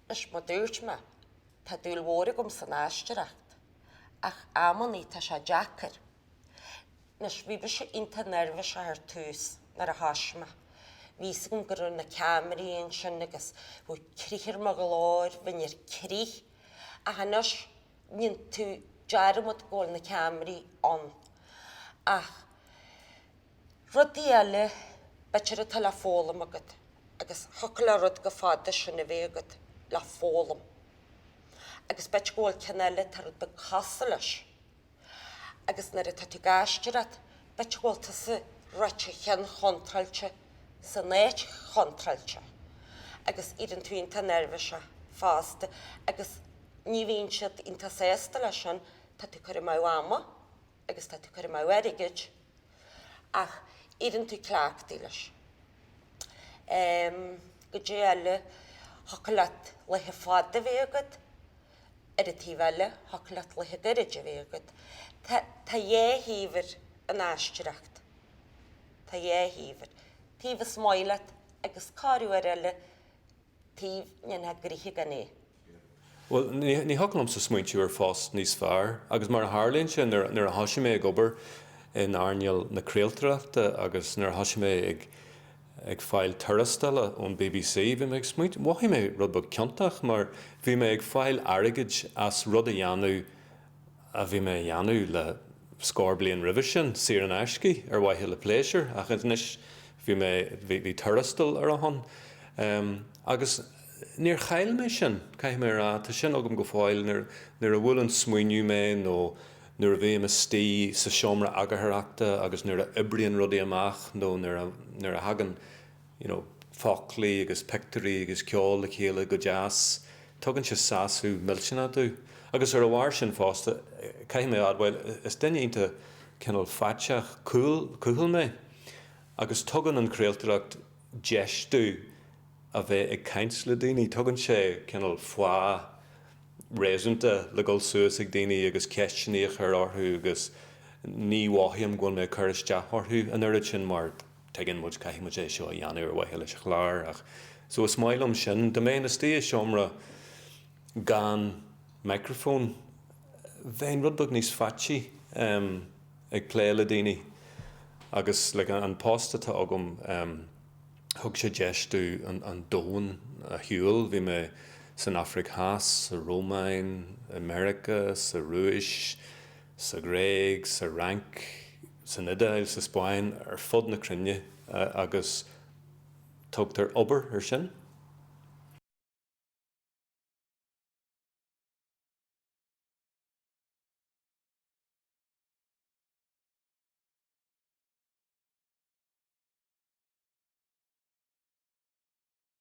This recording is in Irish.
Leis mar a dúirt mé, tá dúil mhór agam san aisteoireacht, ach amannaí tá sé deacair. Anois, bhí mise iontach neirbhíseach ar tús nuair a thosaigh mé. Bhí fhios agam go raibh na ceamaraí ansin agus bhí crith ar mo ghlór, bheinn ar crith, ach anois níonn tú dearmad go bhfuil na ceamaraí ann. Ach. Rudaí eile, b'fhéidir, atá le foghlaim agat agus thiocfadh le rud go fada sin a bheith agat le foghlaim agus b'fhéidir go bhfuil ceann eile atá rud beag cosúil leis agus nuair atá tú ag aisteoireacht b'fhéidir go bhfuil tusa ag ráit an cheann chontráilte san áit chontráilte agus éiríonn tú iontach neirbhíseach fosta agus ní bhíonn siad iontach sásta leis sin tá tú ag cur amú ama. agus tá tú ag cur amú airgid ach éiríonn tú cleachtaithe leis. Cad é eile thiocfadh leat laetha fada a bheith agat, ar an taobh eile thiocfadh leat laetha gairid a bheith agat. Tá dhá thaobh ar an aisteoireacht. Tá dhá thaobh air. Taobh is maith leat agus corruair eile taobh a ndéanfá gnoithe gan é. Bhuel, ní thiocfadh liomsa smaointiú ar phost níos fearr agus mar a tharlaíonn sé, nuair a thoisigh mé ag obair in earnáil na craoltóireachta agus nuair a thoisigh mé ag fáil tuarastail ón bbc, bhí mé ag smaointiú, mhothaigh mé rud beag ciontach mar bhí mé ag fáil airgid as rud a dhéanamh a bhí mé a dhéanamh le scór bliain roimhe sin, saor in aisce, ar mhaithe le pléisiúr, ach anois bhí mé, bhí tuarastal ar a shon. Agus níor chaill mé sin, caithfidh mé a rá, tá sin agam go fóill, nuair a bhuaileann smaoineamh mé nó nuair a bhím istigh sa seomra eagarthóireachta agus nuair a oibríonn rudaí amach nó nuair a thagann you know foclaí agus pictiúirí agus ceol le chéile go deas tugann sé sásamh millteanach domh agus ar a bharr sin fosta caithfidh mé a admháil is duine iontach cineál faiteach cúl cúthail mé agus tugann an chraoltóireacht deis domh a bheith ag caint le daoine tugann sé cineál fáth réasúnta le dhul suas ag daoine agus ceisteanna a chur orthu agus ní mhothaím go bhfuil mé ag cur isteach orthu an oiread sin mar tuigeann muid, caithfidh muid é seo a dhéanamh ar mhaithe leis an chlár ach so is maith liom sin. Dá mbeinn istigh i seomra gan microphone bheinn rud beag níos faitchí em ag plé le daoine agus like an post atá agam em thug sé deis domh an domhan a shiúl, bhí mé san Afraic Theas, sa Rómáin, i Meiriceá, sa Rúis, sa Ghréig, sa Fhrainc. san Iodáil, sa Spáinn, ar fud na cruinne agus tugtar obair ar sin.